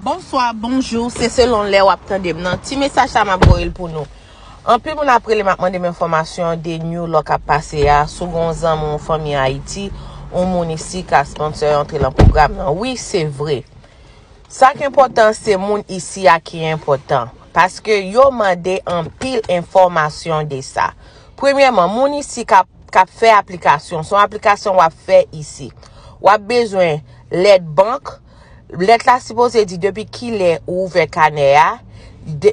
Bonswa, bonjou, se selon lè wap tande m nan. Ti mesaj sa map voye l pou nou. Anpil moun ap rele m ap mande m enfòmasyon de new law kap pase a, si w gen yon zanmi yon fanmi Ayiti, yon moun isi ka sponsor antre lan pwogram nan. Wi, se vre. Sa ki enpòtan se moun isi a ki enpòtan. Paske yo mande anpil enfòmasyon de sa. Premyèman, moun isi kap kap fè aplikasyon, son aplikasyon wap fè isi. Wap bezwen lèt bank. Lèt la sipoze di depi kilè ou ouvè kanè a,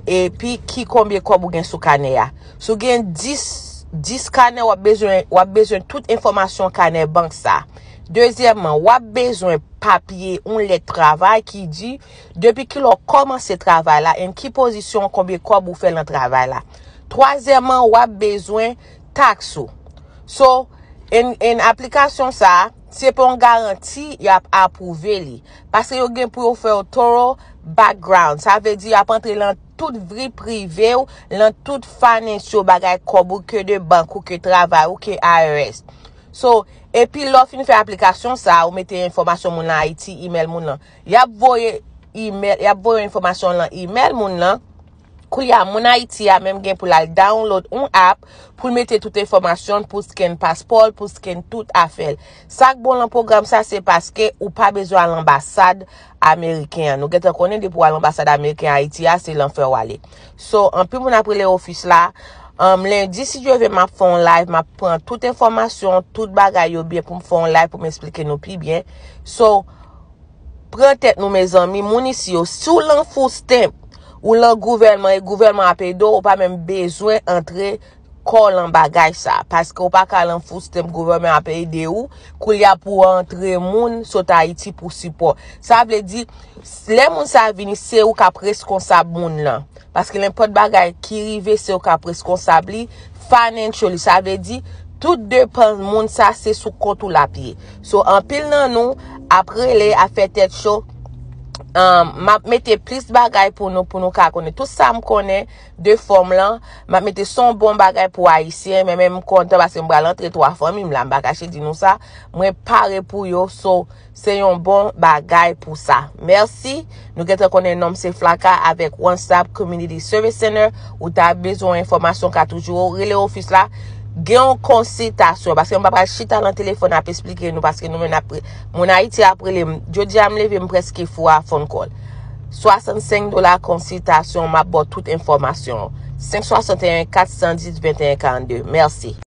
epi ki konbyen kòb ou gen sou kanè a. Si w gen 10, 10 kanè w ap bezwen, w ap bezwen tout enfòmasyon kanè bank sa. Dezyèmman, w ap bezwen papye, yon lèt travay ki di depi kilè w kòmanse travay la and ki pozisyon, konbyen kòb ou fè lan travay la. Twazyèmman, w ap bezwen taks ou. So, and aplikasyon sa. Se pa yon garanti y ap apwouve li. Paske yo gen pou yo fè yon thorough background. Sa vle di y ap antre lan tout vri prive ou, lan tout financial bagay kòb ou ke de bank ou, ke travay ou, ke IRS. So, epi lè w fin fè aplikasyon sa a, ou mete enfòmasyon moun lan Ayiti, email moun lan. Y ap voye email, y ap voye enfòmasyon lan email moun lan. Koulye a moun Ayiti a menm gen pou l al download yon app pou l mete tout enfòmasyon l, pou l scan paspò l, pou l scan tout afè l. Sa k bon lan pwogram sa se paske ou pa bezwen al anbasad ameriken an. Nou gen tan konnen depi w al anbasad ameriken an Ayiti a se lanfè w ale. So anpil moun ap rele ofis la. Lendi si Dye ve m ap fè yon live m ap pran tout enfòmasyon, tout bagay yo byen pou m fè yon live pou m esplike nou pi byen. So Pran tèt nou mezanmi moun isi yo si w lan foustemp ou lan gouvèlman e gouvèlman ap ede w ou pa menm bezwen antre kò w lan bagay sa paske w pa ka lan foustemp gouvèlman ap ede w koulye a pou w antre moun sot ayiti pou sipò sa vle di lè moun sa vini se ou k ap reskonsab moun lan. Paske nenpòt bagay ki rive se ou k ap reskonsab li financially. Sa vle di, tout depans moun sa se sou kont ou l ap ye. So, anpil nan nou ap rele, ap fè tèt cho, um, m ap mete plis bagay pou nou, pou nou ka konnen. Tout sa m konnen de fòm lan, m ap mete s on bon bagay pou Ayisyen, men men m kontan paske m pral antre 3 fanmi m la, m pa kache di nou sa. Mwen pare pou yo, so, Se yon bon bagay pou sa. Merci. Nou gentan konnen nom se Flaka avek One Stop Community Service Center. Ou ta bezwen enfomasyon ka toujou ou rele ofis la. Gen yon konsitasyon. Paske m pa pral chita lan telefon ap esplike nou. Paske nou men ap re. Moun Ayiti ap rele m. Jodi a m leve m preske fou a phone call. 65 dola konsitasyon. M ap baw tout enfomasyon. 561 410 21 42. Merci.